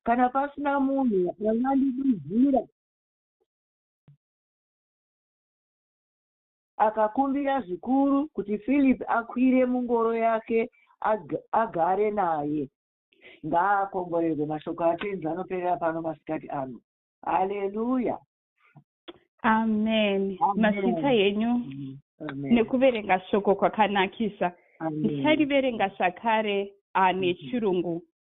kana pasina munhu angandiduzira akakumbira zvikuru kuti philip akwire mungoro yake agare naye ngaakomborerwe mashoko atenzi anoperera pano masikati ano haleluya amen masita yenyu nekuverenga shoko kwakanakisa ndichariverenga zvakare ah, nechirungu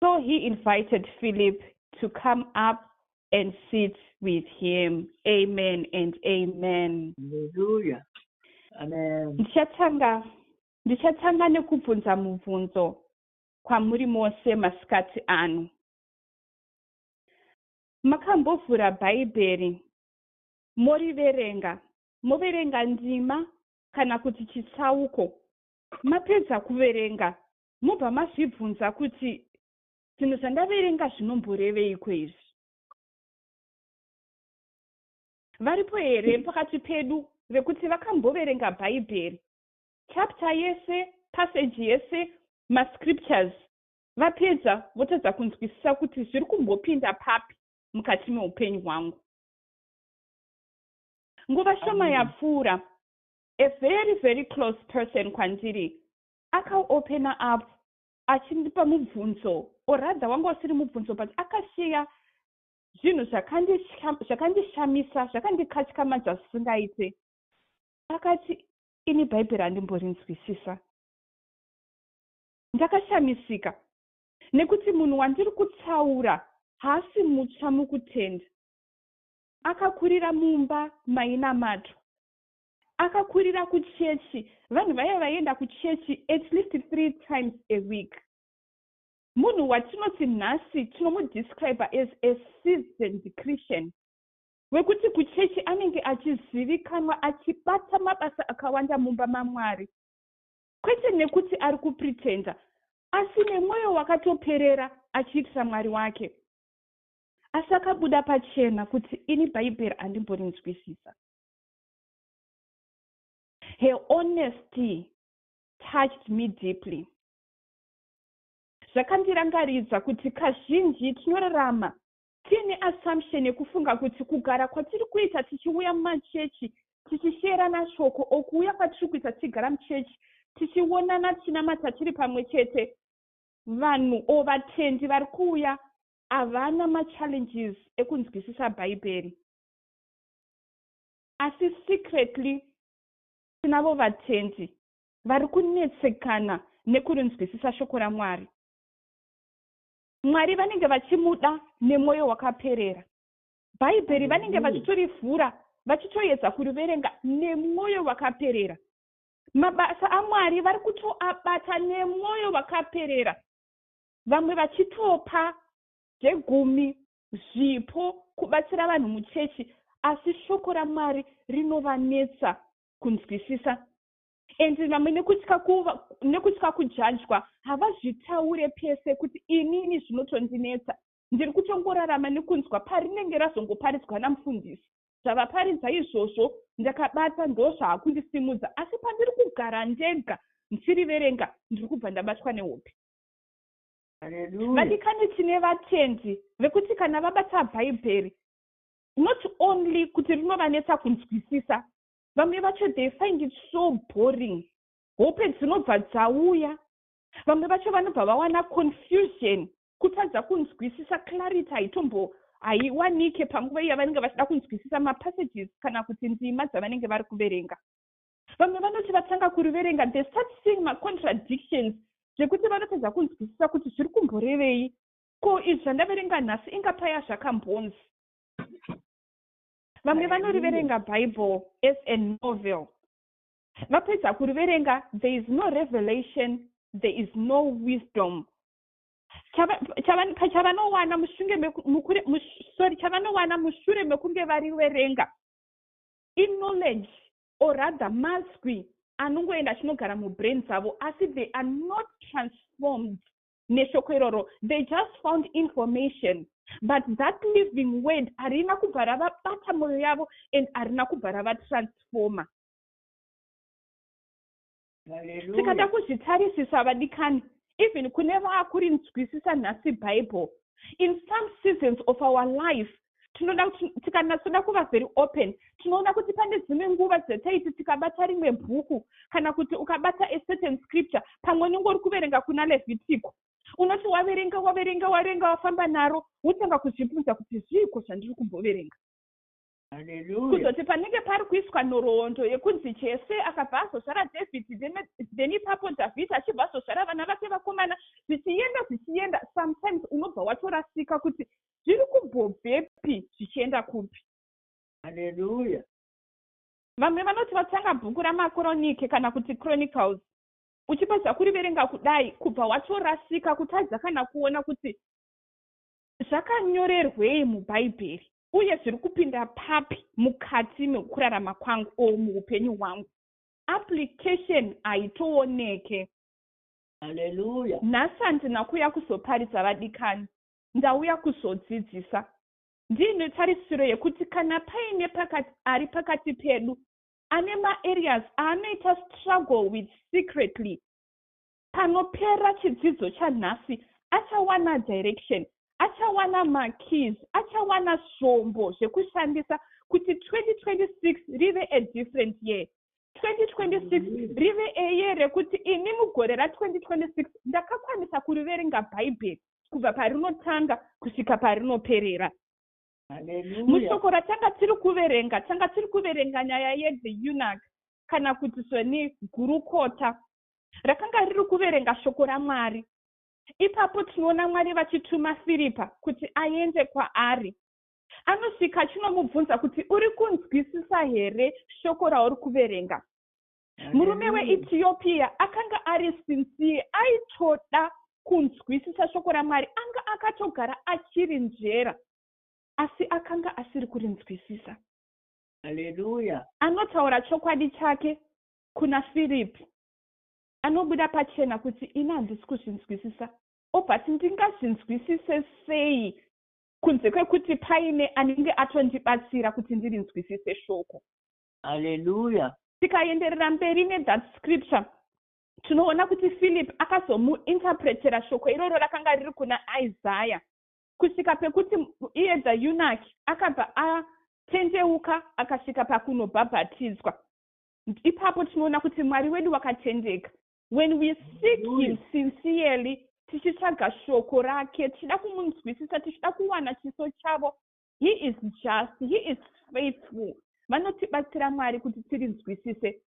So he invited Philip to come up and sit with him. Amen and amen. Hallelujah. Amen. Ndichatanga ndichatanga nekubvunza mubvunzo kwamuri mose masikati ano. Makambovhura Bhaibheri moriverenga, moverenga ndima kana kuti chitsauko. Mapedza kuverenga mobva mazvibvunza kuti zvinhu zvandaverenga zvinomboreveiko izvi. Varipo here pakati pedu vekuti vakamboverenga Bhaibheri chapter yese, passage yese, mascriptures vapedza votadza kunzwisisa kuti zviri kumbopinda papi mukati meupenyu hwangu? Nguva shoma yapfuura, a very very close person kwandiri Akaopena apo achindipa mubvunzo or rather wanga usiri mubvunzo but akasheya zvinhu zvakandishamisa zvakandikatyamadza zvisingaite. Akati ini bhaibheri handimborinzwisisa. Ndakashamisika nekuti munhu wandiri kutaura haasi mutsva mukutenda. Akakurira mumba mainamatwa. Akakurira kuchechi, vanhu vaiva vaienda kuchechi at least three times a week. Munhu watinoti nhasi tinomudescriber as a seasoned Christian wekuti kuchechi anenge achizivikanwa achibata mabasa akawanda mumba maMwari kwete nekuti ari kupretender asi nemwoyo wakatoperera achiitira Mwari wake. Asi akabuda pachena kuti ini Bhaibheri handimborinzwisisa. her honesty touched me deeply zvakandirangaridza kuti kazhinji tinorarama tiine assumption yekufunga kuti kugara kwatiri kuita tichiuya mumachechi tichisheerana shoko o kuuya kwatiri kuita tichigara muchechi tichionana tichinamata tiri pamwe chete vanhu o vatendi vari kuuya havana machallenges ekunzwisisa bhaibheri asi secretly tinavo vatendi vari kunetsekana nekurinzwisisa shoko raMwari. Mwari vanenge vachimuda nemwoyo wakaperera. Bhaibheri vanenge vachitorivhura vachitoedza kuriverenga nemwoyo wakaperera. Mabasa aMwari vari kutoabata nemwoyo wakaperera, vamwe vachitopa zvegumi zvipo, kubatsira vanhu muchechi, asi shoko raMwari rinovanetsa kunzwisisa. And vamwe nekutya kuva, nekutya kujajwa havazvitaure pese kuti inini zvinotondinetsa. Ndiri kutongorarama nekunzwa parinenge razongoparidzwa namufundisi. Zvavaparidza izvozvo ndakabata ndozvaakundisimudza asi pandiri kugara ndega ndichiriverenga ndiri kubva ndabatwa nehope. vadikani tine vatendi vekuti kana vabata bhaibheri not only kuti rinovanetsa kunzwisisa vamwe vacho they find it so boring hope dzinobva dzauya vamwe vacho vanobva vawana confusion kutadza kunzwisisa clarity haitombo haiwanike panguva iya vanenge vachida kunzwisisa mapassages kana kuti ndima dzavanenge vari kuverenga Vamwe vanoti vatanga kuriverenga they start seeing macontradictions zvekuti vanotadza kunzwisisa kuti zviri kumborevei. Ko izvi zvandaverenga nhasi inga paya zvakambonzi. Vamwe vanoriverenga Bible as a novel. Vapedza kuriverenga there is no revelation, there is no wisdom. Chavanowana mushure mekunge variverenga in knowledge or rather maswi anongoenda achinogara mubrain dzavo asi they are not transformed neshoko iroro they just found information but that living word harina kubva ravabata mwoyo yavo and harina kubva ravatransforma tikada kuzvitarisisa vadikani even kune vaakurinzwisisa nhasi bible in some seasons of our life tinoda tikanatsoda kuva very open tinoona kuti pane dzimwe nguva dzataiti tikabata rimwe bhuku kana kuti ukabata a certain scripture pamwe unenge uri kuverenga kuna levhitiko unoti waverenga waverenga waverenga wafamba naro wotanga kuzvibvunza kuti zviiko zvandiri kumboverenga kuzoti panenge pari kuiswa nhoroondo yekunzi jese akabva azozvara dhavhidhi then ipapo dhavhidhi achibva azozvara vana vake vakomana zvichienda zvichienda sometimes unobva watorasika kuti zviri kumbobvepi zvichienda kupi haleluya vamwe vanoti vatanga bhuku ramakoronike kana kuti chronicles uchibva zvakuriverenga kudai kubva watorasika kutadza kana kuona kuti Zvakanyorerwei muBhaibheri, uye zviri kupinda papi mukati mekurarama kwangu or muupenyu hwangu? Application haitooneke. Hallelujah. Nhasi handina kuuya kuzoparidza vadikani, ndauya kuzodzidzisa. Ndiine tarisiro yekuti kana paine pakati ari pakati pedu ane maareas aanoita struggle with secretly, Panopera chidzidzo chanhasi achawana direction, achawana makeys, achawana zvombo zvekushandisa kuti 2026 rive a different year. 2026 rive a year rekuti ini mugore ra 2026 ndakakwanisa kuriverenga Bhaibheri kubva parinotanga kusvika parinoperera. Mushoko ratanga tiri kuverenga, tanga tiri kuverenga nyaya ye the eunuch kana kuti zveni gurukota rakanga riri kuverenga shoko raMwari. Ipapo tinoona Mwari vachituma Firipa kuti aende kwaari. Anosvika achinomubvunza kuti uri kunzwisisa here shoko rauri kuverenga. Murume weEtiopia akanga ari sinsiye, aitoda kunzwisisa shoko raMwari, anga akatogara achiri njera, asi akanga asiri kurinzwisisa. Haleluya. Anotaura chokwadi chake kuna Philip anobuda pachena kuti ini handisi kuzvinzwisisa obut ndingazvinzwisise sei kunze kwekuti paine anenge atondibatsira kuti ndirinzwisise shoko haleluya tikaenderera mberi nethat scripture tinoona kuti philip akazomuinterpretera shoko iroro rakanga riri kuna isaya kusvika pekuti iye the yunaki akabva atendeuka akasvika pakunobhabhatidzwa ipapo tinoona kuti mwari wedu wakatendeka when we seek him sincerely tichitsvaga shoko rake tichida kumunzwisisa tichida kuwana chiso chavo he is just he is faithful vanotibatsira mwari kuti tirinzwisise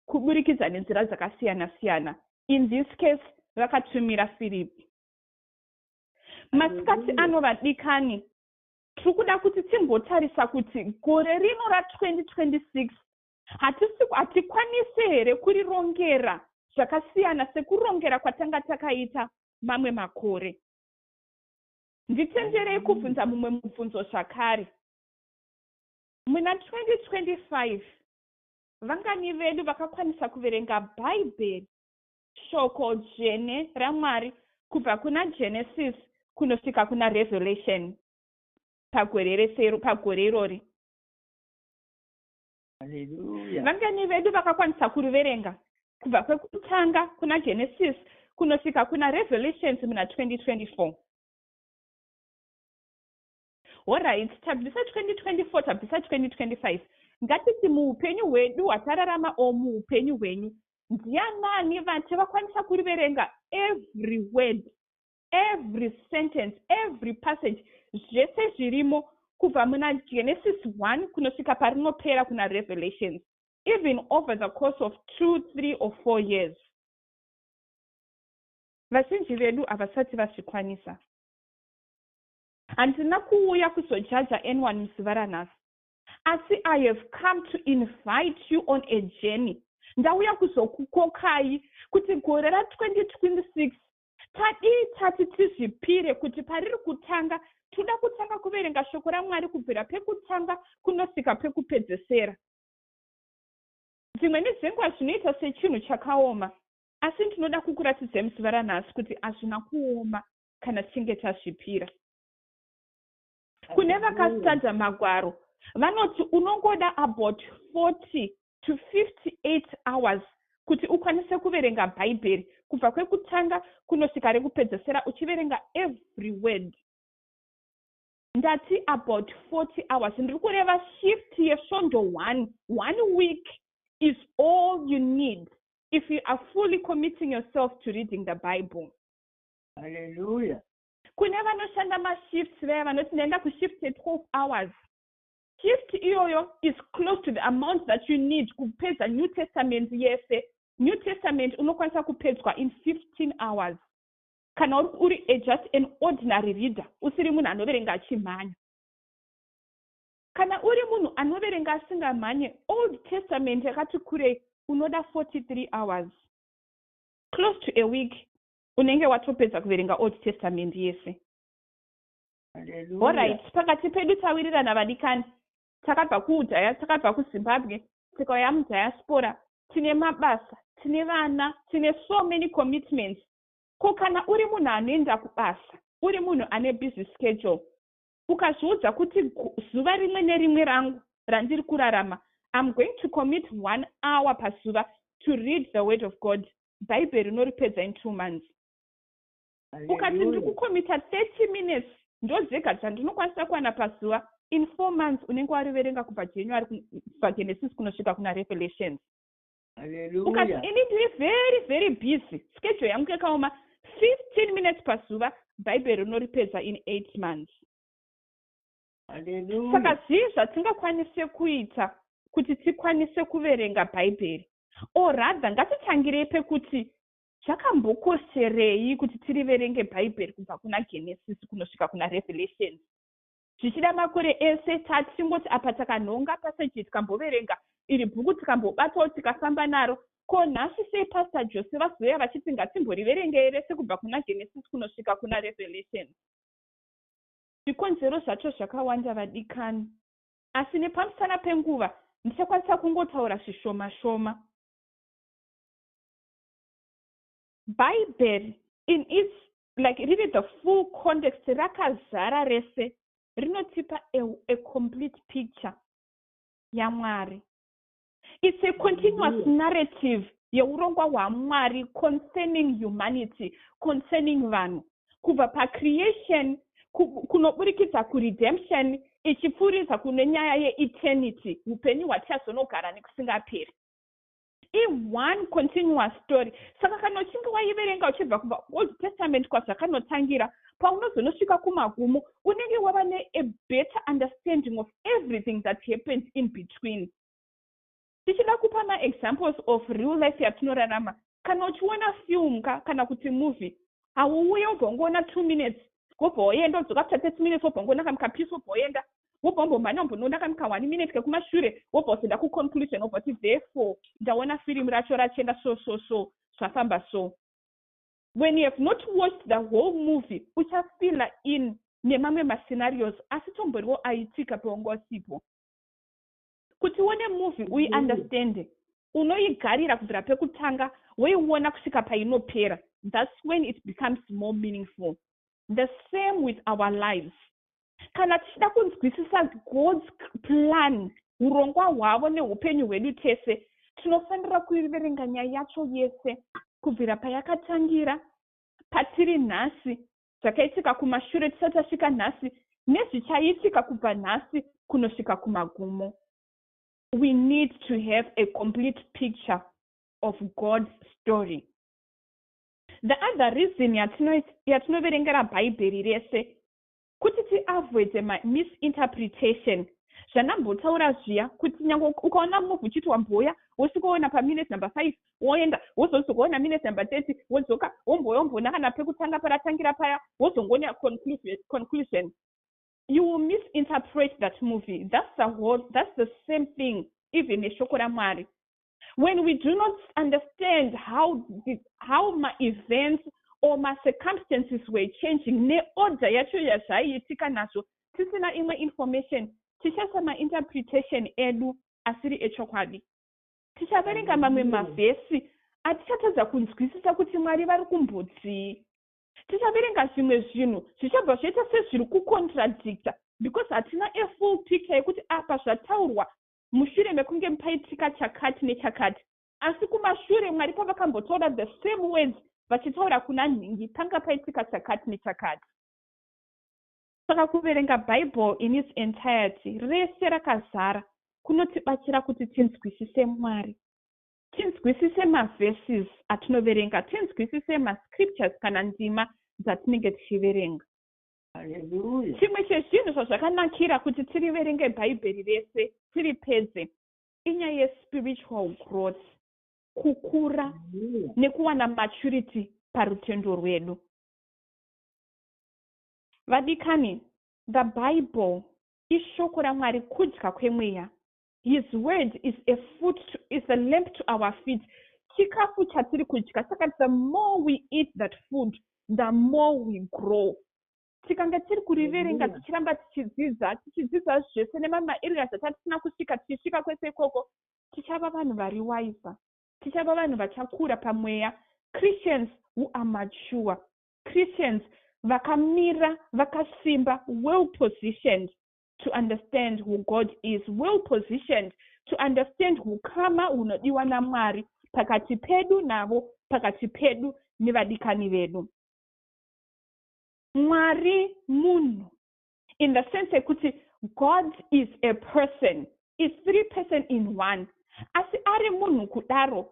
kuburikidza nenzira dzakasiyana siyana in this case vakatumira firipi masikati ano vadikani tiri kuda kuti timbotarisa kuti gore rino ra 2026 Hatikwanise here kurirongera zvakasiyana sekurongera kwatanga takaita mamwe makore? Nditenderei kubvunza mumwe mubvunzo zvakare. Muna 2025, vangani vedu vakakwanisa kuverenga Bhaibheri, shoko dzvene raMwari, kubva kuna Genesis kunosvika kuna Revelation pagore irori? vangani vedu vakakwanisa kuriverenga kubva kwekutanga kuna genesis kunosvika kuna revelations muna 2024 horit tabvisa 2024 tabvisa 2025 ngatiti muupenyu hwedu hwatararama o muupenyu hwenyu ndianani vati vakwanisa kuriverenga every word every sentence every passage zvese zvirimo kubva muna genesis 1 kunosvika parinopera kuna revelations even over the course of two three or four years vazhinji vedu havasati vazvikwanisa handina kuuya kuzojaja anyone muzuva ranhasi asi i have come to invite you on a journey ndauya kuzokukokai kuti gore ra 2026 Tadii tati tizvipire kuti pariri kutanga toda kutanga kuverenga shoko raMwari kubvira pekutanga kunosvika pekupedzesera. Dzimwe nedzenguva zvinoita sechinhu chakaoma, asi ndinoda kukuratidzai muzuva ranhasi kuti hazvina kuoma kana tichinge tazvipira. Kune vakastada magwaro vanoti unongoda about 40 to 58 hours kuti ukwanise kuverenga Bhaibheri kubva kwekutanga kunosvika rekupedzesera uchiverenga every word. Ndati about 40 hours ndiri kureva shift yesvondo one. One week is all you need if you are fully committing yourself to reading the Bible. Hallelujah. Kune vanoshanda mashifts vaya vanoti ndaenda kushift ye 12 hours. Gift iyoyo is close to the amount that you need kupedza New Testament yese. New Testament unokwanisa kupedzwa in 15 hours kana uri a just an ordinary reader usiri munhu anoverenga achimhanya kana uri munhu anoverenga asingamhanye old testament yakati kurei unoda 43 hours close to a week unenge watopedza kuverenga old testament yese orit pakati pedu tawirirana vadikani takabva kuudhaya takabva kuzimbabwe tikauya mudhayaspora tine mabasa tine vana tine so many commitments ko kana uri munhu anoenda kubasa uri munhu ane busy schedule ukazviudza kuti zuva rimwe nerimwe rangu randiri kurarama iam going to commit one hour pazuva to read the word of god bhaibheri unoripedza in two months ukati ndiri kukomita 30 minutes ndozvega zvandinokwanisa kuwana pazuva in four months unenge wariverenga kubva january kubva genesis kunosvika kuna revelations ukati ini ndiri very very busy schedule yangu yakaoma 15 minutes pazuva bhaibheri rinoripedza in eight months saka zvii zvatingakwanise kuita kuti tikwanise kuverenga bhaibheri or rather ngatitangirei pekuti Zvakambokosherei kuti tiriverenge Bhaibheri kubva kuna Genesisi kunosvika kuna Revelations? Zvichida makore ese tatingoti apa takanhonga paseji tikamboverenga iri bhuku tikambobatawo tikafamba naro. Ko nhasi sei Pastor Jose vazouya vachiti ngatimboriverengei rese kubva kuna Genesisi kunosvika kuna Revelations? Zvikonzero zvacho zvakawanda vadikani, asi nepamusana penguva ndichakwanisa kungotaura zvishoma shoma. bhaibheri in its like riri the full context rakazara rese rinotipa a, a complete picture yamwari its a continuous mm-hmm. narrative yeurongwa hwamwari concerning humanity concerning vanhu kubva pacreation kunoburikidza kuredemption ichipfuuridza kune nyaya yeeternity upenyu hwatichazonogara nekusingaperi I one continuous story saka kana uchinge waiverenga uchibva kubva kuold testament kwazvakanotangira paunozonosvika kumagumo unenge wava nea better understanding of everything that happened in between tichida kupa maexamples of real life yatinorarama kana uchiona film ka kana kuti movie hauuye wobva ungoona two minutes wobva woenda wodzoka after thirty minutes wobva ungoona kamukapiece wobva woenda wobva wambomhanya wambonoona kani ka one minute kekumashure wobva wozenda kuconclusion wobva kuti therefore ndaona firimu racho rachenda so so so zvafamba so when you have not watched the whole movie uchafila in nemamwe mascenarios asi tomboriwo aitika pewanga usipo kuti uone movie uyi mm. understande unoigarira kubvira pekutanga woiona kusvika painopera thats when it becomes more meaningful the same with our lives kana tichida kunzwisisa god's plan urongwa hwavo neupenyu hwedu tese tinofanira kuiverenga nyaya yacho yese kubvira payakatangira patiri nhasi zvakaitika kumashure tisati tasvika nhasi nezvichaitika kubva nhasi kunosvika kumagumo we need to have a complete picture of god's story the other reason yatinoverengera bhaibheri rese Kuti ti avoide ma misinterpretation zvandambotaura zviya kuti nyange ukaona move uchiti wamboya wosvikoona paminute number five woenda wozozokoona minute number thirty wodzoka womboya womboona kana pekutanga paratangira paya wozongoona conclusion you will misinterpret that movie that's the, whole, that's the same thing even neshoko ramwari when we do not understand how, the, how maevents or macircumstances were changing neorder yacho yazvaiitika nazvo tisina imwe information tichaisa mainterpretation edu asiri echokwadi tichaverenga mamwe mavhesi atichatadza kunzwisisa kuti mwari vari kumbodzii tichaverenga zvimwe zvinhu zvichabva zvoita sezviri kucontradicta because hatina afull picture yekuti apa zvataurwa mushure mekunge paitika chakati nechakati. Asi kumashure Mwari pavakambotaura the same words vachitaura kuna nhingi panga paitika chakati nechakati. Saka kuverenga Bible in its entirety, rese rakazara, kunotibatsira kuti tinzwisise Mwari. Tinzwisise maverses atinoverenga, tinzwisise mascriptures kana ndima dzatinenge tichiverenga. chimwe chezvinhu zvazvakanakira kuti tiriverenge bhaibheri rese tiri pedze inyaya yespiritual growth kukura nekuwana maturity parutendo rwedu vadikani the bible ishoko ramwari kudya kwemweya His word is a foot to, is a lamp to our feet. Chikafu chatiri kudya saka the more we eat that food the more we grow. Tikanga tiri kuriverenga tichiramba tichidzidza tichidzidza zvese nemama areas atatisina kusvika tichisvika kwese ikoko tichava vanhu vari waiza tichava vanhu vachakura pamweya Christians who are mature Christians vakamira vakasimba well positioned to understand who god is well positioned to understand hukama hunodiwa namwari pakati pedu navo pakati pedu nevadikani vedu mwari munhu in the sense yekuti god is a person is three person in one asi ari munhu kudaro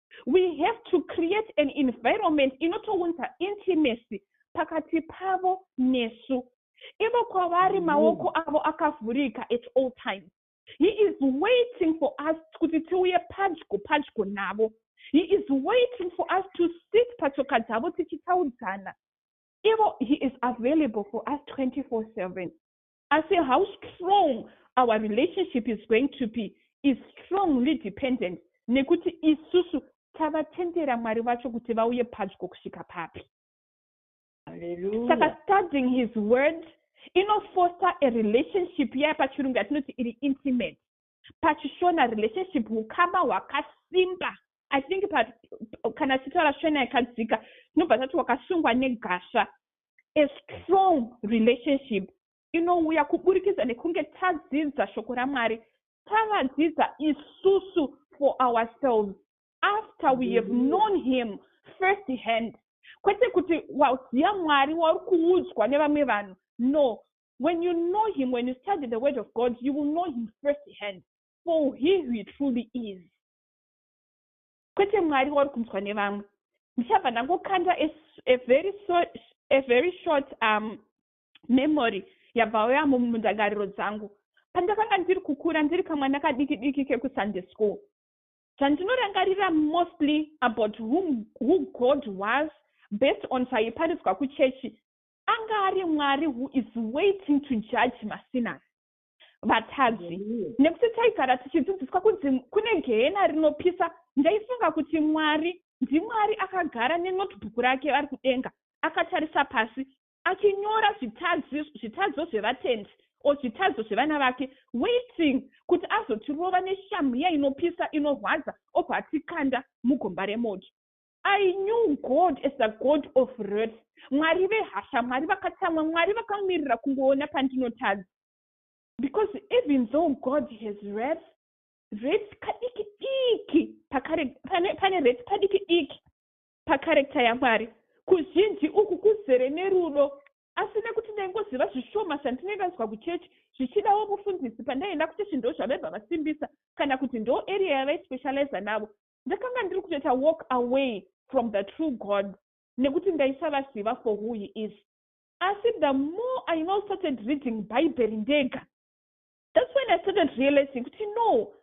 we have to create an environment inotounza intimacy pakati pavo nesu ivo kwavari mm-hmm. maoko avo akavhurika at all times he is waiting for us kuti tiuye padyo padyo navo he is waiting for us to sit patsoka dzavo tichitaudzana ivo he is available for us 24 7 asi how strong our relationship is going to be is strongly dependent nekuti isusu tavatendera mwari vacho kuti vauye padyo kusvika papi saka studying his word inofoster a relationship yaya pachirungu yatinoti iri intimate pachishona relationship hukama hwakasimba i think pa, kana tichitaura shona yakadzika tinobva tati wakasungwa negasva a strong relationship inouya kuburikidza nekunge tadzidza shoko ramwari tavadzidza isusu for ourselves after we have mm-hmm. known him first hand kwete kuti waziva mwari wauri kuudzwa nevamwe vanhu no When you know him, when you study the word of God, you will know him first hand for he who he truly is. Kwete Mwari wauri kunzwa nevamwe. Ndichabva ndangokanda a, a very so, a very short um, memory yabva yauya mundangariro dzangu pandakanga ndiri kukura ndiri kamwana kadiki diki kekusunday school zvandinorangarira mostly about whom, who god was based on zvaiparizwa kuchechi anga ari mwari who is waiting to judge masinas vatadzi nekuti taigara tichidzidziswa kunzi kune gehena rinopisa ndaifunga kuti mwari ndimwari akagara nenotebook rake vari kudenga akatarisa pasi achinyora zvitadzo zvevatendi o zvitadzo zvevana vake waiting kuti azotirova neshamhu yainopisa inorwadza obva atikanda mugomba remoto I knew God as a God of wrath, Mwari vehasha, Mwari vakatsamwa, Mwari vakamirira kungoona pandinotadza. Because even though God has wrath, wrath kadiki diki pakare, pane, pane wrath kadiki diki pakarekta yaMwari. Kuzhinji uku kuzere nerudo asi nekuti ndaingoziva zvishoma zvandinenge ndazwa kuchechi zvichidawo mufundisi pandaienda kuchechi ndo zvavaibva vasimbisa kana kuti ndo area yavaispecializa navo Ndakanga ndiri kutoita walk away from the true God nekuti ndaisavaziva for who he is. Asi the more I now started reading Bhaibheri ndega, that's when I started realizing kuti no,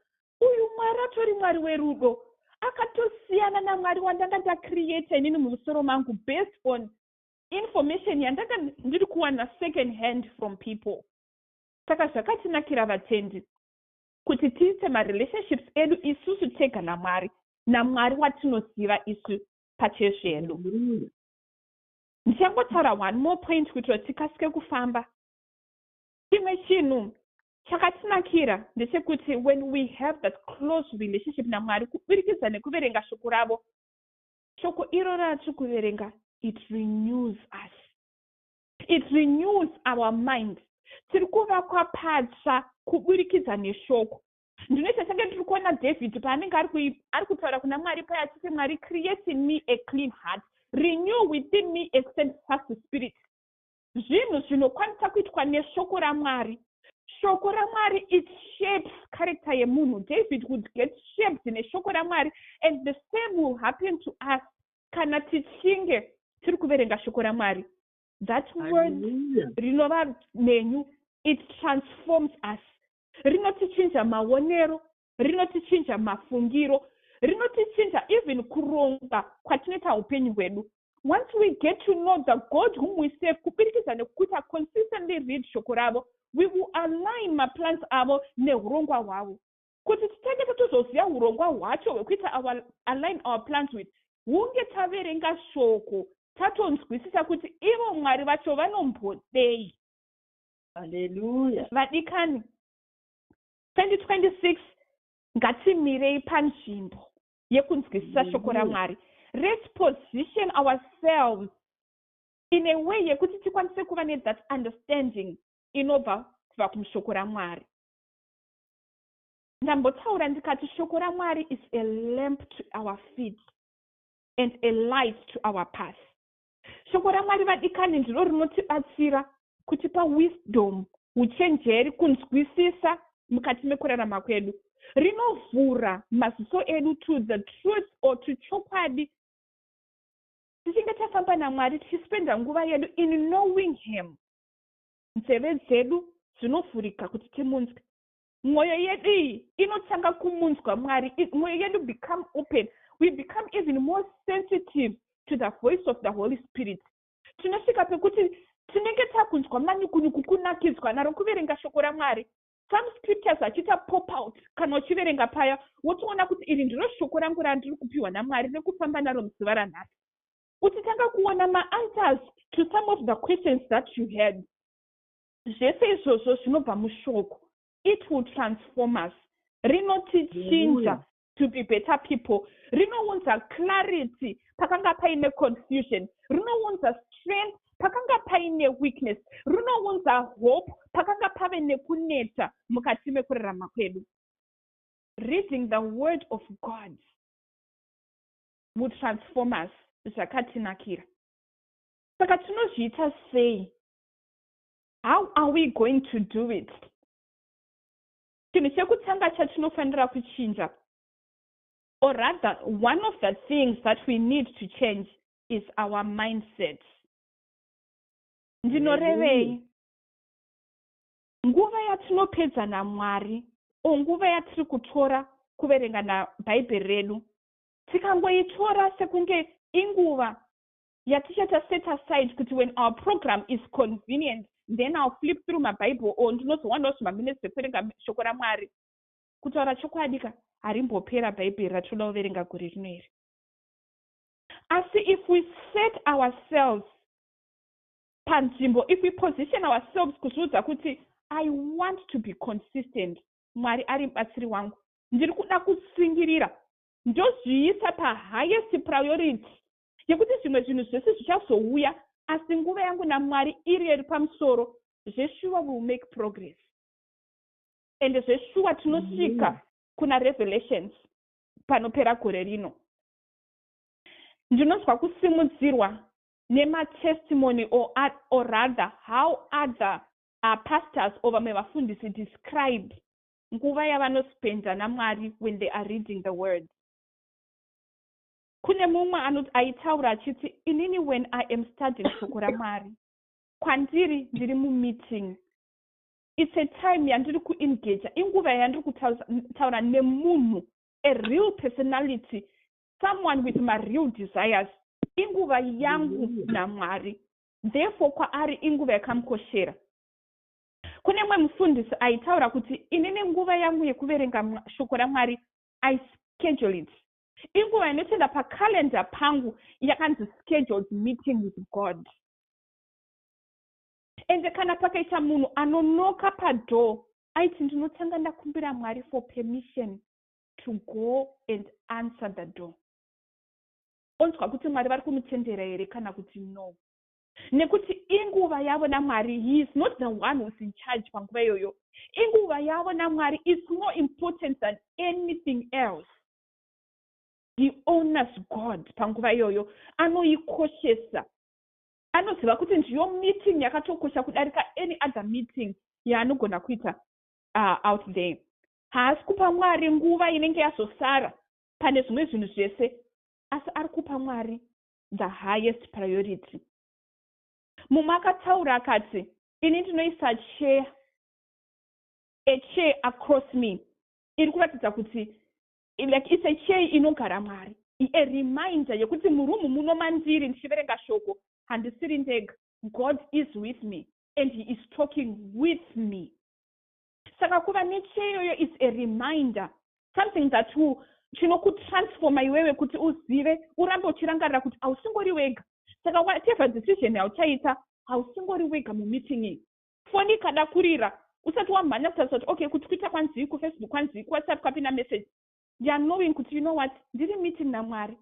uyu Mwari atori Mwari werudo. Akatosiyana naMwari wandanga ndacreata inini mumusoro mangu based on information yandanga ndiri kuwana second hand from people. Saka zvakatinakira vatendi. kuti tiite marelationships edu isusu tega namwari namwari watinoziva isu pachezvedu ndichangotaura one more point kuitira tikasike kufamba chimwe chinhu chakatinakira ndechekuti when we have that close relationship namwari kubirikidza nekuverenga shoko ravo shoko iro ratiri kuverenga it renews us It renews our mind. Tiri kuvakwa patsva kuburikidza neshoko. Ndinoita senge ndiri kuona David paanenge ari kui, ari kutaura kuna Mwari paya achiti, Mwari, create in me a clean heart, renew within me a steadfast spirit. Zvinhu zvinokwanisa kuitwa neshoko raMwari. Shoko raMwari it shapes character yemunhu. David would get shaped neshoko raMwari and the same will happen to us. kana tichinge tiri kuverenga shoko ramwari that word rinova menyu it transforms us rinotichinja maonero rinotichinja mafungiro rinotichinja even kuronga kwatinoita upenyu hwedu once we get to know the god whom we save kubirikidza nekuita consistently read shoko ravo we will align maplans avo neurongwa hwavo Kuti titange totozoziva hurongwa hwacho hwekuita our align our plans with hunge taverenga shoko tatonzwisisa kuti ivo mwari vacho vanombodei haleluya vadikani 2026 ngatimirei panzvimbo yekunzwisisa shoko ramwari let's position ourselves in a way yekuti tikwanise kuva nethat understanding inobva kubva kumushoko ramwari Ndambotaura ndikati shoko raMwari is a lamp to our feet and a light to our path. Shoko raMwari vadikani ndiro rinotibatsira kutipa wisdom, uchenjeri, kunzwisisa mukati mekurarama kwedu. Rinovhura maziso edu to the truth or to chokwadi. Tichinge tafamba naMwari tichispenda nguva yedu in knowing him. nzeve dzedu dzinovhurika kuti timunzwe mwoyo yedu iyi inotanga kumunzwa mwari mwoyo yedu become open we become even more sensitive to the voice of the holy spirit tinosvika pekuti tinenge takunzwa manyukunyuku kunakidzwa naro kuverenga shoko ramwari some scriptures achiita pop out kana uchiverenga paya wotoona kuti iri ndiro shoko rangu randiri kupiwa namwari rekufamba naro muzuva ranhasi uchitanga kuona maanswers to some of the questions that you had zvese izvozvo zvinobva mushoko it will transform us rinotichinja to be better people rinounza clarity pakanga paine confusion rinounza strength pakanga paine weakness rinounza hope pakanga pave nekuneta mukati mekurarama kwedu reading the word of god muTransformers zvakatinakira. Saka tinozviita sei? How are we going to do it? Chinhu chekutanga chatinofanira kuchinja or rather one of the things that we need to change is our mindset. Ndinorevei? Nguva yatinopedza naMwari o nguva yatiri kutora kuverenga naBhaibheri redu Tikangoitora sekunge inguva yatichaita set aside kuti when our program is convenient then I'll flip through maBible or ndinozowanawo zvimaminutes zvekuverenga shoko raMwari. Kutaura chokwadika, harimbopera Bhaibheri ratinoda kuverenga gore rino iri. Asi if we set ourselves panzvimbo, if we position ourselves kuzviudza kuti I want to be consistent, Mwari ari mubatsiri wangu. Ndiri kuda kutsungirira ndozviisa pahighest priority yekuti zvimwe zvinhu zvese zvichazouya asi nguva yangu naMwari iriyo iri pamusoro zveshuwa will make progress ende zveshuwa tinosvika kuna revelations panopera gore rino ndinonzwa kusimudzirwa nematestimony or, or rather how other pastors or vamwe vafundisi describe nguva yavanospenda namwari when they are reading the word kune mumwe anoti aitaura achiti inini when i am studying shoko ramwari kwandiri ndiri mumeeting its a time yandiri kuengaja inguva yandiri kutaura nemunhu a real personality someone with mareal desires inguva yangu namwari Therefore, kwaari inguva yakamukoshera. Kune mumwe mufundisi aitaura kuti, Inini nguva yangu yekuverenga Shoko raMwari, I schedule it. Inguva inotoenda pacalendar pangu yakanzi scheduled meeting with God. Ende kana pakaita munhu anonoka padoor aiti ndinotanga ndakumbira Mwari for permission to go and answer the door. onzwa kuti Mwari vari kumutendera here kana kuti no. Nekuti inguva yavo naMwari, he is not the one who's in charge panguva iyoyo. Inguva yavo naMwari is more important than anything else. He honors God panguva iyoyo, anoikoshesa. Anoziva kuti ndiyo meeting yakatokosha kudarika any other meeting yaanogona kuita uh, out there. Haasi kupa Mwari nguva inenge yazosara pane zvimwe zvinhu zvese asi ari kupa mwari the highest priority mumwe akataura akati ini ndinoisa chair a chair across me iri kuratidza kuti like it's a chair inogara mwari a reminder yekuti murumu muno mandiri ndichiverenga shoko handisiri ndega god is with me and he is talking with me Saka kuva necheya iyoyo is a reminder something that will chinokutransforma iwewe kuti uzive urambe uchirangarira kuti hausingori wega saka whatever decision yauchaita hausingori wega mumeeting iyi foni ikada kurira usati wamhanya kutarisa kuti okay kuti kuita kwanzii kufacebook kwanzii kuwhatsapp kwapinda message youare knowing kuti you know what ndiri meeting namwari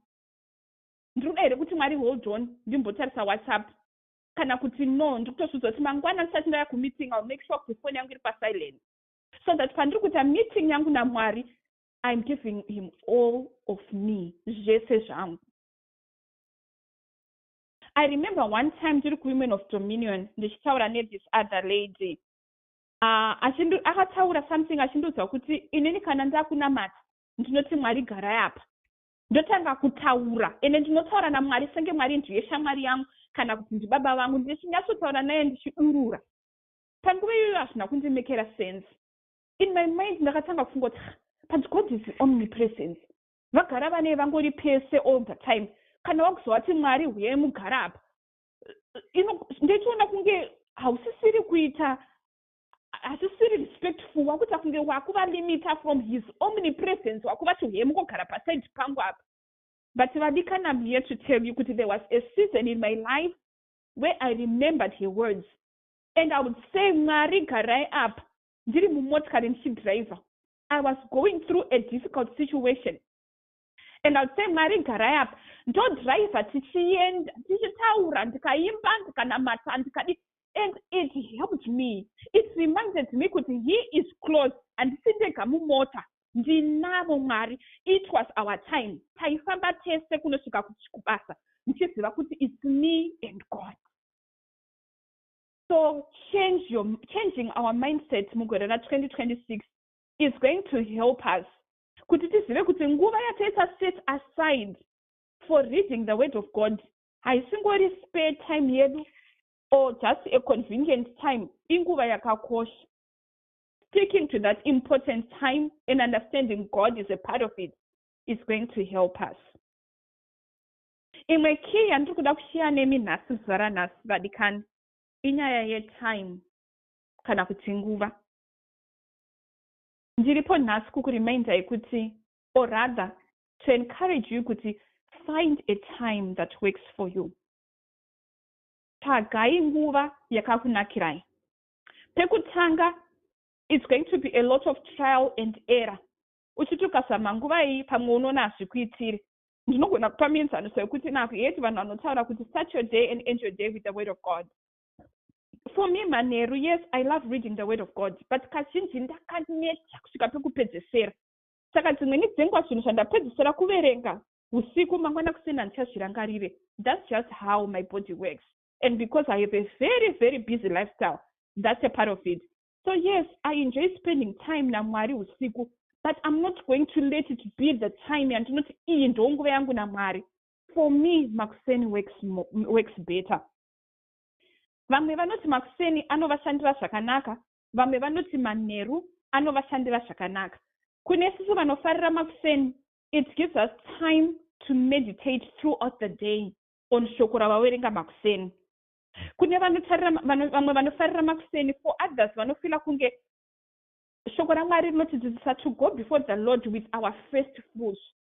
ndiri kuda here kuti mwari hold on ndimbotarisa whatsapp kana kuti no ndikutozviudza kuti mangwana ndisati ndauya kumeeting ill make sure kuti foni yangu iri pasilent so that pandiri kuita meeting yangu namwari iam giving him all of me zvese zvangu i remember one time ndiri kuwomen of dominion ndichitaura nethis other lady uh, akataura something achindiudza kuti inini kana ndakunamata ndinoti mwari garai apa ndotanga kutaura ende ndinotaura namwari senge mwari ndiye shamwari yangu kana kuti ndibaba vangu ndichinyatsotaura naye ndichidurura panguva iyoyo hazvina kundimekera sense in my mind ndakatanga kufungoti but god is omnipresence vagara vanei vangori pese all the time kana wakuzovati mwari huyai mugara apa ndochiona kunge hausisiri kuita hazvisiri respectful wakuita kunge wakuva limita from his omnipresence wakuva tuhemu kogara paside pangu apa but vadikana am here to tell you kuti there was a season in my life where i remembered her words and i would say mwari garai apa ndiri mumotikari ndichidriver i was going through a difficult situation and i would say mwari garai apa ndodriver tichienda tichitaura ndikaimba ndikanamata ndikadi and it helped me it reminded me kuti he is close handisi ndega mumota ndinavo mwari it was our time taifamba tese kunosvika kubasa ndichiziva kuti its me and god so change your, changing our mindset mugore ra 2026 is going to help us kuti tizive kuti nguva yataisa set aside for reading the word of god haisingori spare time yedu or just a convenient time inguva yakakosha sticking to that important time and understanding god is a part of it is going to help us imwe key yandiri kuda kushiya nemi nhasi zuva ranhasi vadikani inyaya yetime kana kuti nguva Ndiripo nhasi kukureminder kuti or rather to encourage you kuti find a time that works for you. Tsvagai nguva yakakunakirai. Pekutanga it's going to be a lot of trial and error uchiti ukazama nguva iyi pamwe unoona hazvikuitiri ndinogona kupa mienzaniso yekuti naku heti vanhu vanotaura kuti start your day and end your day with the word of god for me manheru yes i love reading the word of god but kazhinji ndakaneta kusvika pekupedzesera saka dzimweni dzenguva zvinhu zvandapedzesera kuverenga usiku mangwana kusina ndichazvirangarire thats just how my body works and because i have a very very busy lifestyle thats a part of it so yes i enjoy spending time namwari usiku but i'm not going to let it be the time yandinoti iyi ndonguva yangu namwari for me makuseni works, works better Vamwe vanoti makuseni anovashandira zvakanaka, vamwe vanoti manheru anovashandira zvakanaka. Kune sisi vanofarira makuseni, it gives us time to meditate throughout the day on shoko ravawerenga makuseni. Kune vanotarira vano, vamwe vanofarira makuseni, for others vanofila kunge shoko raMwari rinotidzidzisa to go before the Lord with our first fruits.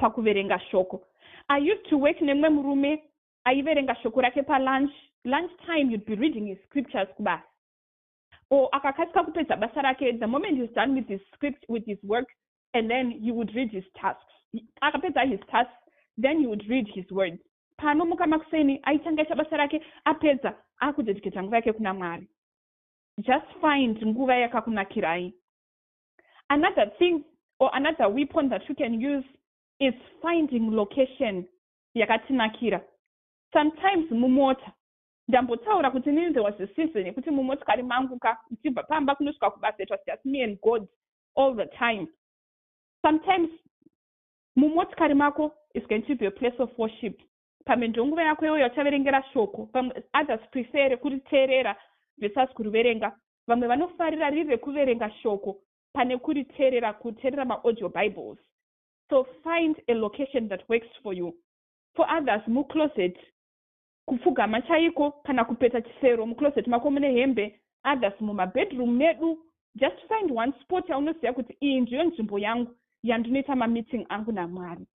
pakuverenga shoko. I used to work nemumwe murume aiverenga shoko rake palunch lunch time you'd be reading his scriptures kubasa or akakasika kupedza basa rake the moment he's done with his script with his work and then he would read his tasks akapedza his tasks then he would read his words paanomuka makuseni aitanga ita basa rake apedza akudedicata nguva yake kuna mwari just find nguva yakakunakirai another thing or another weapon that you can use is finding location yakatinakira sometimes mumota ndambotaura kuti nini there was a season yekuti mumotikari mangu ka uchibva pamba kunosvika kubasa it was just me and god all the time sometimes mumotikari mako is going to be a place of worship pamwe ndonguva yako iyoyo yachaverengera shoko pamwe others prefere kuriteerera versus kuriverenga Vamwe vanofarira riri rekuverenga shoko pane kuriterera kuterera ma audio bibles. So find a location that works for you. For others mu closet, kupfugama chaiko kana kupeta chisero mu closet mako mune hembe, others muma bedroom medu. Just find one spot yaunoziva kuti iyi ndiyo nzvimbo yangu yandinoita ma meeting angu naMwari.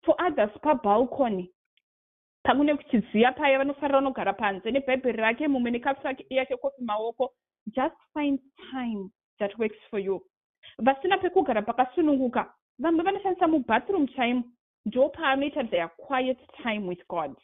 For others pa balcony. Pamwe nekuti ziya paya vanofarira unogara panze nebhaibheri rake mumwe nekafu yake kofi maoko just find time that works for you vasina pekugara pakasununguka vamwe vanoshandisa mubathroom chaimo ndo paanoita their quiet time with god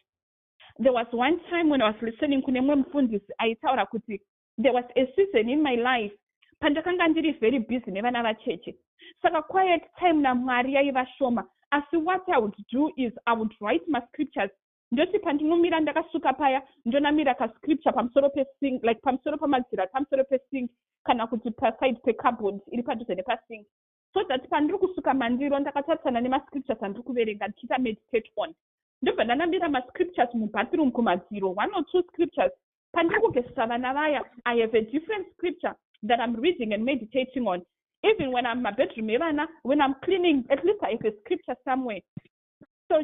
there was one time when i was listening kune mumwe mufundisi aitaura kuti there was a season in my life pandakanga ndiri very busy nevana vacheche saka quiet time namwari yaiva shoma asi what i would do is i would write mascriptures ndoti pandinomira ndakasuka paya ndonamira kascripture pamusoro pesing like pamusoro pamadziro ari pamusoro pesing kana kuti paside pecarbond iri padhuze nepasing so that pandiri kusuka mandiro ndakatarisana nemascriptures andiri kuverenga ndichiita meditate on ndobva ndanamira mascriptures mubathroom kumadziro one or two scriptures pandiri kugezesa vana vaya i have a different scripture that i'm reading and meditating on even when i'm mabedroom evana when i'm cleaning at least i have a scripture somewhere so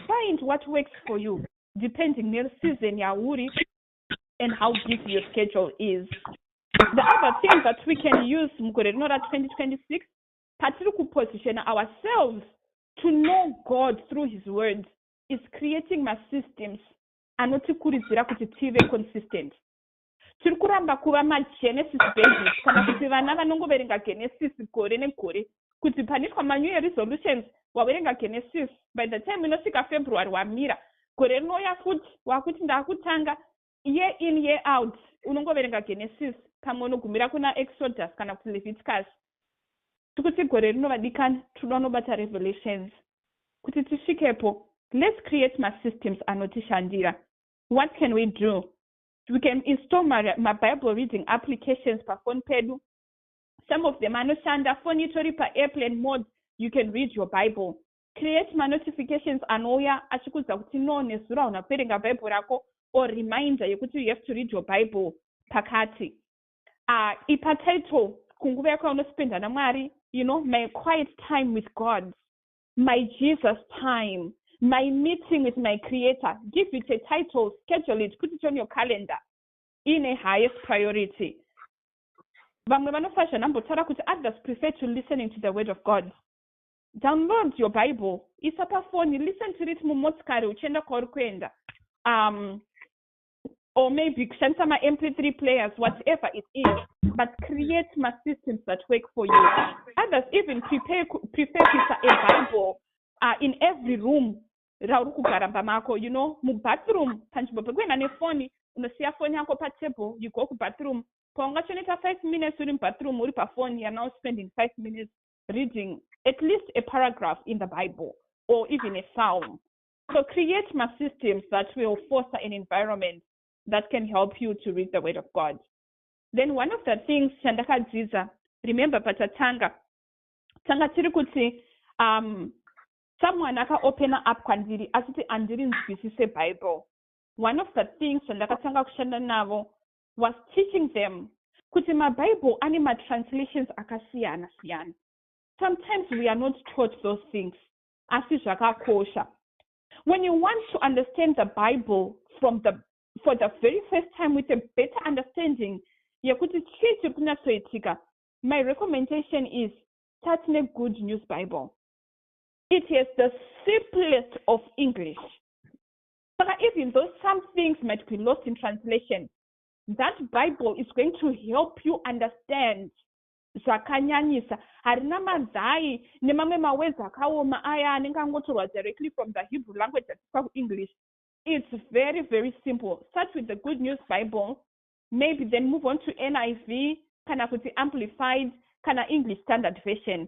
find what works for you depending neseason yauri and how busy your schedule is the other thing that we can use mugore rino ra 2026 patiri kupositiona ourselves to know god through his words is creating masystems anotikurudzira kuti tive consistent tiri kuramba kuva magenesis basis kana kuti vana vanongoverenga genesis gore negore kuti panoitwa ma new year resolutions waverenga Genesis by the time inosvika February wamira gore rinouya futi wakuti ndakutanga year in year out unongoverenga Genesis pamwe unogumira kuna Exodus kana kuti Leviticus tikuti gore rino vadikani tinoda unobata revelations kuti tisvikepo let's create ma systems anotishandira what can we do we can install ma, ma bible reading applications pafoni pedu some of them anoshanda foni itori paairplane mode you can read your bible create manotifications anouya achikuudza kuti no nezuro hauna kuverenga bible rako or reminder yekuti you have to read your bible pakati uh, ipa title kunguva yako yaunospenda namwari you know my quiet time with god my jesus time my meeting with my creator give it a title schedule it put it on your calendar in a highest priority vamwe vanofazha nambotaura kuti others prefer to listening to the word of god download your bible isa pafoni listen to it mumotikari uchienda kwauri kuenda um, or maybe kushandisa mamp3 players whatever it is but create masystems that work for you others even prepare, prepare kuisa a bible uh, in every room rauri kugara pamako you know mubathroom panzvimbo pekuenda nefoni unosiya foni yako patable you go kubathroom paungachoneta five minutes uri mubathroom uri pafoni you're now spending five minutes reading at least a paragraph in the bible or even a psalm so create my systems that will foster an environment that can help you to read the word of god then one of the things chandakadzidza remember patatanga tanga tiri kuti um, someone aka opener up kwandiri achiti andiri nzwisise bible one of the things zvandakatanga kushanda navo was teaching them kuti mabible ane matranslations akasiyana siyana sometimes we are not taught those things asi zvakakosha when you want to understand the bible from the for the very first time with a better understanding yekuti chii chiri kunyatsoitika my recommendation is start negood news bible it has the simplest of english saka even though some things might be lost in translation that bible is going to help you understand zvakanyanyisa harina manzai nemamwe mawezi akaoma aya anenge angotorwa directly from the hebrew language atiswa kuenglish it's very very simple start with the good news bible maybe then move on to niv kana kuti amplified kana english standard version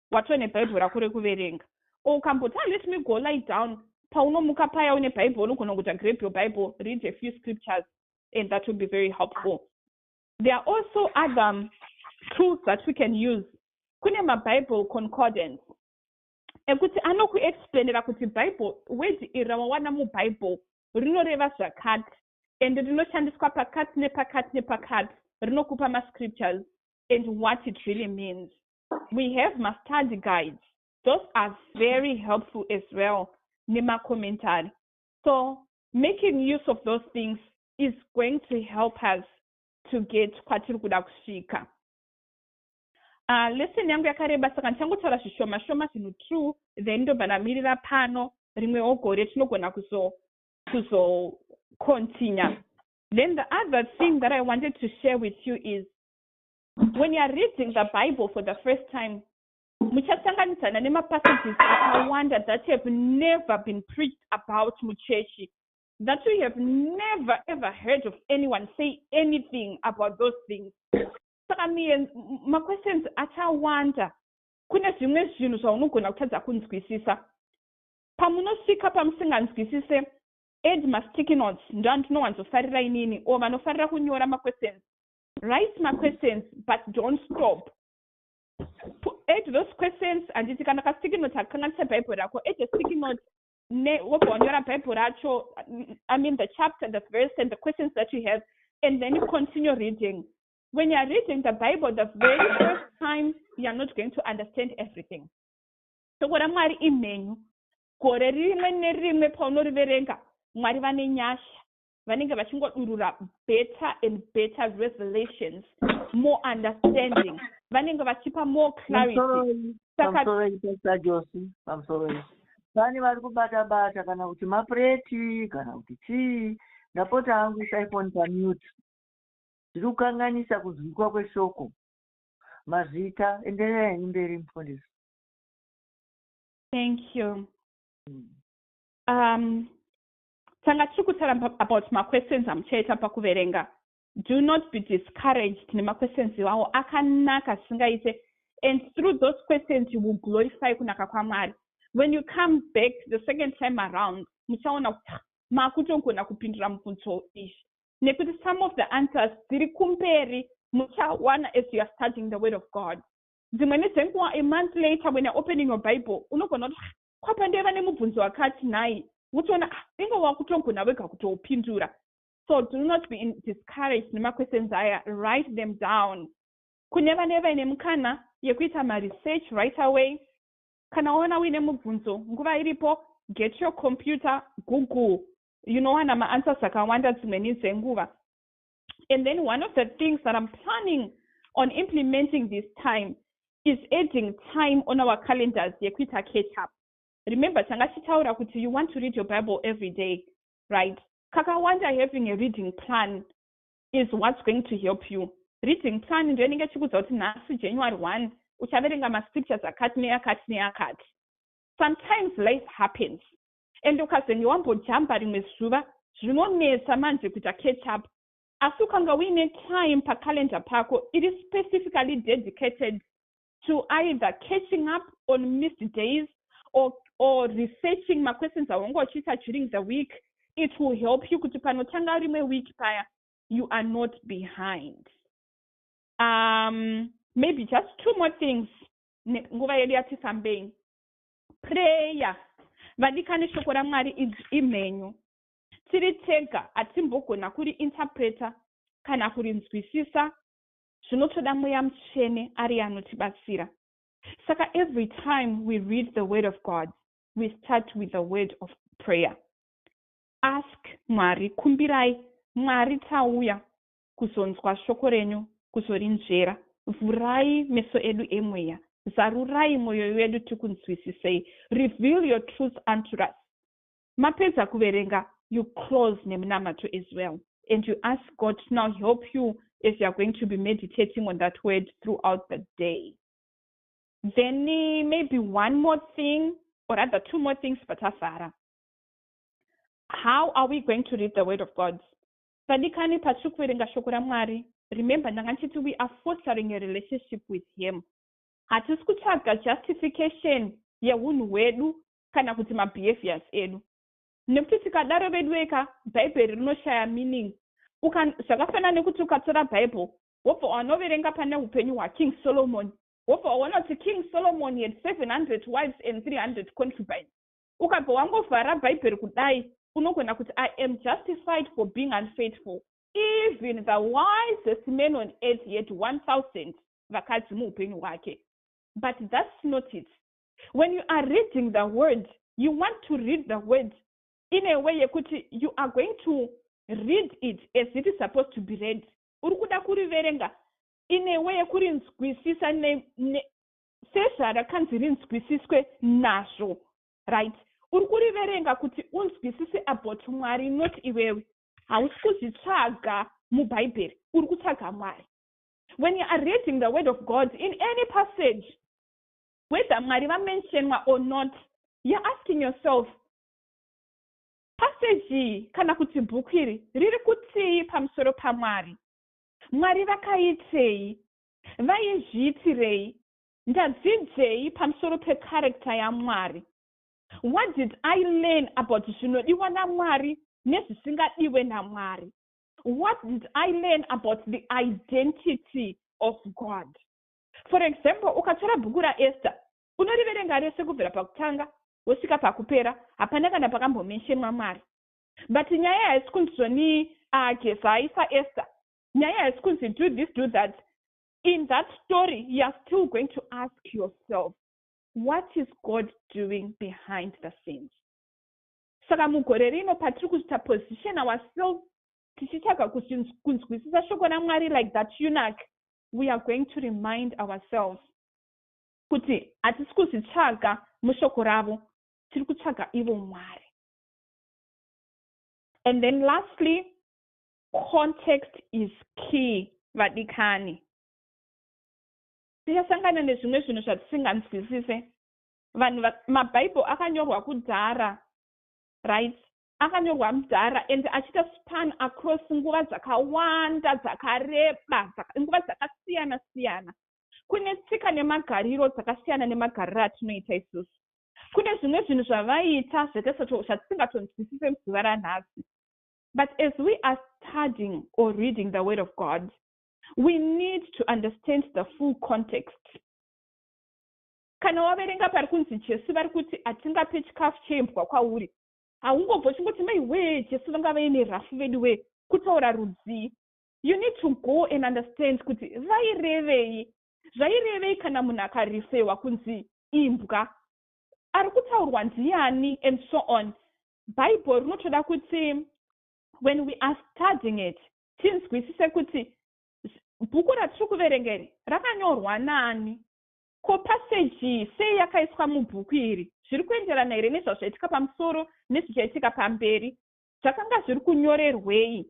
watove nebhaibheri rako rekuverenga or ukamboti ah, let me go lie down paunomuka paya une bhaibheri unogona kuita grab your bible read a few scriptures and that will be very helpful there are also other um, tools that we can use kune mabible concordance ekuti anokuexplainera kuti bible word iri rawawana mubible rinoreva zvakati and rinoshandiswa pakati nepakati nepakati rinokupa mascriptures and what it really means we have mastudy guides those are very helpful as well nemacommentary so making use of those things is going to help us to get kwatiri kuda kusvika uh, lesson yangu yakareba saka ndichangotaura zvishoma shoma zvinhu true then ndobva ndamirira pano rimwewo gore tinogona kuzo kuzo continue then the other thing that i wanted to share with you is When you are reading the Bible for the first time, muchasanganidzana nemapassages akawanda that have never been preached about muchechi that you have never ever heard of anyone say anything about those things saka miye maquestions achawanda kune zvimwe zvinhu zvaunogona kutadza kunzwisisa pamunosvika pamusinganzwisise ed masticky notes ndoandinowanzofarira inini o vanofarira kunyora maquestions write maquestions but don't stop add those questions handiti kana kasticky note hakukanganisa bhaibheri rako add a sticky note ne wobva wanyora bhaibheri racho i mean the chapter the verse and the questions that you have and then you continue reading when youare reading the bible the very first time youare not going to understand everything shoko ramwari imhenyu gore rimwe nerimwe paunoriverenga mwari vane nyasha vanenge vachingodurura better and better revelations more understanding vanenge vachipa more clarity saka vani vari kubata bata kana kuti mapureti kana kuti chii ndapota hangu isaifoni pamute zviri kukanganisa kunzwikwa kweshoko mazita enderera henyu mberi mufundisi thank you mm. um, tanga tiri kutaura about maquestions amuchaita pakuverenga do not be discouraged nemaquestions iwawo akanaka zvisingaite and through those questions you will glorify kunaka kwamwari when you come back the second time around muchaona kuti ah, makutogona kupindura mubvunzo izvi nekuti some of the answers dziri kumberi muchawana as you are studying the word of god dzimwe nedzenguva a month later when you're opening your bible unogona kuti ah, kwabva ndaiva nemubvunzo wakati nhai wotoona ah inga wakutogona wega kutoupindura so do not be in discouraged nemaquestions aya write them down kune vane vaine mukana yekuita maresearch right away kana waona uine mubvunzo nguva iripo get your computer google unowana maanswers akawanda dzimweni dzenguva and then one of the things that i'm planning on implementing this time is adding time on our calendars yekuita catch up remember tanga tichitaura kuti you want to read your bible every day right kakawanda having a reading plan is what's going to help you reading plan ndo inenge chikuudza kuti nhasi january one uchaverenga mascriptures akati neakati neakati sometimes life happens and ukazenge wambojamba rimwe zuva zvinonetsa manje kuita catch up asi ukanga uine time pacalendar pako iri specifically dedicated to either catching up on missed days or, or researching maquestions awanga uchiita during the week it will help you kuti panotanga rimwe week paya you are not behind um, maybe just two more things nguva yedu yatifambei prayer vadikani shoko ramwari idzvi imhenyu tiri tega hatimbogona kuri interpreter kana kurinzwisisa zvinotoda mweya mutsvene ari anotibatsira saka every time we read the word of god we start with the word of prayer ask mwari kumbirai mwari tauya kuzonzwa shoko renyu, kuzorinzvera. Vhurai meso edu emweya. Zarurai mwoyo yedu tikunzwisisei. Reveal your truth unto us. Mapedza kuverenga, you close nemunamato as well and you ask God to now help you as you are going to be meditating on that word throughout the day. Then maybe one more thing or rather two more things patavhara. How are we going to read the word of God? Vadikani patiri kuverenga shoko raMwari remember ndanga ndichiti we are fostering a relationship with him hatisi kutsvaga justification yehunhu hwedu kana kuti mabehaviors edu nekuti tikadaro veduweka bhaibheri rinoshaya meaning zvakafanana nekuti ukatora bible wobva wanoverenga pane upenyu hwaking solomon wobva waona kuti king solomon had 700 wives and 300 concubines ukabva wangovhara bhaibheri kudai unogona kuti i am justified for being unfaithful even the wisest man on earth yet 1000 vakadzi muupenyu hwake but thats not it when you are reading the word you want to read the word in a way yekuti you are going to read it as it is supposed to be read uri kuda kuriverenga in a way yekurinzwisisa sezvarakanzi rinzwisiswe nazvo right uri kuriverenga kuti unzwisise about mwari not iwewe hausi kuzvitsvaga mubhaibheri uri kutsvaga mwari when you are reading the word of god in any passage whether mwari vamentionwa or not you're asking yourself passage iyi kana kuti bhuku iri riri kutii pamusoro pamwari mwari vakaitei Vaizviitirei? Ndadzidzei pamusoro pecharacter yaMwari? What did I learn about zvinodiwa naMwari nezvisingadiwe naMwari? What did I learn about the identity of God? For example, ukatora bhuku raEsther, unoriverenga rese kubvira pakutanga wosvika pakupera, hapana kana pakambomenshemwa Mwari. But nyaya haisi kunzizvo ni uh, Gezai saEsther, nyaya haisi kunzi do this do that in that story youare still going to ask yourself what is god doing behind the scenes saka mugore rino patiri kuita position ourselves tichitsvaga kunzwisisa shoko ramwari like that unac we are going to remind ourselves kuti hatisi kuzvitsvaga mushoko ravo tiri kutsvaga ivo mwari and then lastly Context is key vadikani. Tichasangana nezvimwe zvinhu zvatisinganzwisise. Vanhu maBible akanyorwa kudhara, right? Akanyorwa mudhara and achiita span across nguva dzakawanda dzakareba, nguva dzakasiyana siyana. Kune tsika nemagariro dzakasiyana nemagariro atinoita isusu. Kune zvimwe zvinhu zvavaiita zvatisingatonzwisise zuva ranhasi. But as we are studying or reading the word of God, we need to understand the full context. Kana waverenga pari kunzi Jesu vari kuti hatingape chikafu cheimbwa kwauri, haungobva uchingoti mai wee Jesu vanga vaine rafu vedu wee kutaura rudzii. You need to go and understand kuti vairevei. Zvairevei kana munhu akarifewa kunzi imbwa. Ari kutaurwa ndiani and so on. bhaibheri rinotoda kuti when we are studying it tinzwisise kuti bhuku ratiri kuverenga iri rakanyorwa nani ko paseji iyi sei yakaiswa mubhuku iri zviri kuenderana here nezvazvaitika pamusoro nezvichaitika pamberi zvakanga zviri kunyorerwei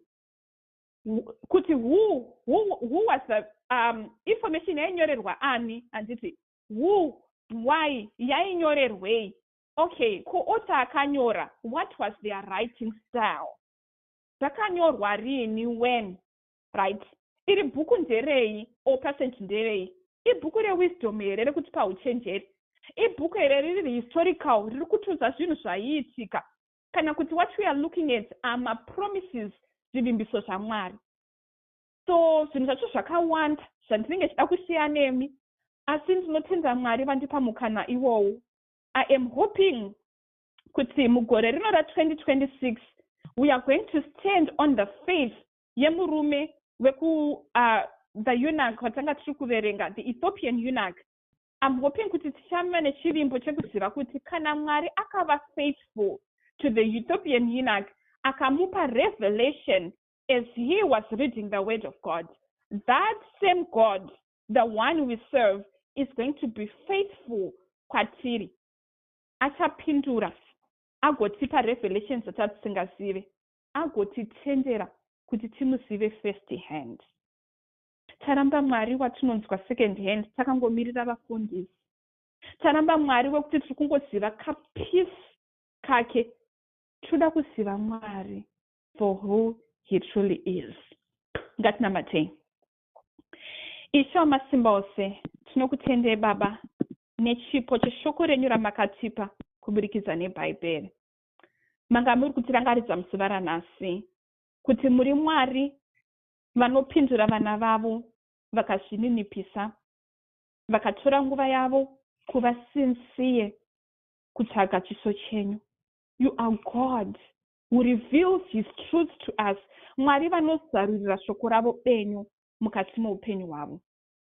kuti who, who, who was the um, information yainyorerwa ani handiti who why yainyorerwei Okay, kuuta akanyora, what was their writing style? Zvakanyorwa rini, when? Right. Iri bhuku nderei, or passage nderei? Ibhuku rewisdom here rekutipa huchenjeri? Ibhuku here riri historical, riri kutiudza zvinhu zvaiitika? Kana kuti what we are looking at are mapromises, zvivimbiso zvaMwari? So, zvinhu zvacho zvakawanda zvandinenge chida kushare nemi, asi ndinotenda Mwari vandipa mukana iwowo. I am hoping kuti mugore rino ra 2026 we are going to stand on the faith yemurume weku uh, the eunuch watanga tiri kuverenga the ethiopian eunuch I'm hoping kuti tichava nechivimbo chekuziva kuti kana Mwari akava faithful to the Ethiopian eunuch akamupa revelation as he was reading the word of God that same God the one we serve is going to be faithful kwatiri achapindura agotipa revelations dzatatisingazive agotitendera kuti timuzive first hand taramba mwari watinonzwa second hand takangomirira vafundisi taramba mwari wekuti tiri kungoziva kapeace kake tinoda kuziva mwari for who he truly is ngatinamatei Ishe wamasimba ose, tinokutendei Baba nechipo cheshoko renyu ramakatipa kuburikidza neBhaibheri. Manga muri kutirangaridza muzuva ranhasi kuti muri Mwari vanopindura vana vavo vakazvininipisa, vakatora nguva yavo kuva sinsiye kutsvaga chiso chenyu. You are God who reveals his truth to us mwari vanozarurira shoko ravo benyu mukati meupenyu hwavo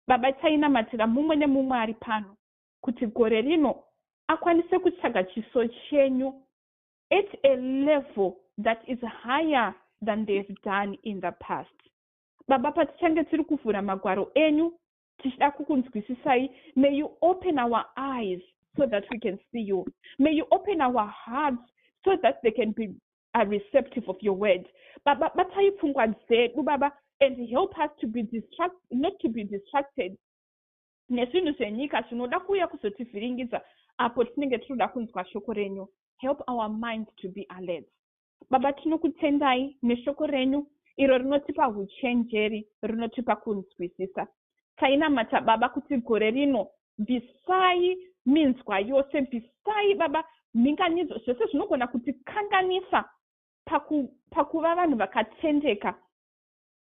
baba tainamatira mumwe nemumwe ari pano kuti gore rino akwanise kutsvaga chiso chenyu at a level that is higher than they've done in the past baba patichange tiri kuvhura magwaro enyu tichida kukunzwisisai may you open our eyes so that we can see you may you open our hearts so that they can be a receptive of your word baba batai pfungwa dzedu baba and help us to be distract, not to be distracted nezvinhu zvenyika zvinoda kuuya kuzotivhiringidza apo tinenge tinoda kunzwa shoko renyu help our minds to be alert Baba, tinokutendai neshoko renyu iro rinotipa huchenjeri, rinotipa kunzwisisa. Tainamata Baba kuti gore rino bvisai minzwa yose, bvisai Baba mhinganidzo, zvese zvinogona kutikanganisa paku, pakuva vanhu vakatendeka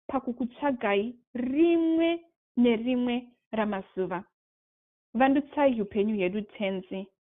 pakukutsvagai rimwe nerimwe ramazuva. Vandutsai upenyu hedu Tenzi,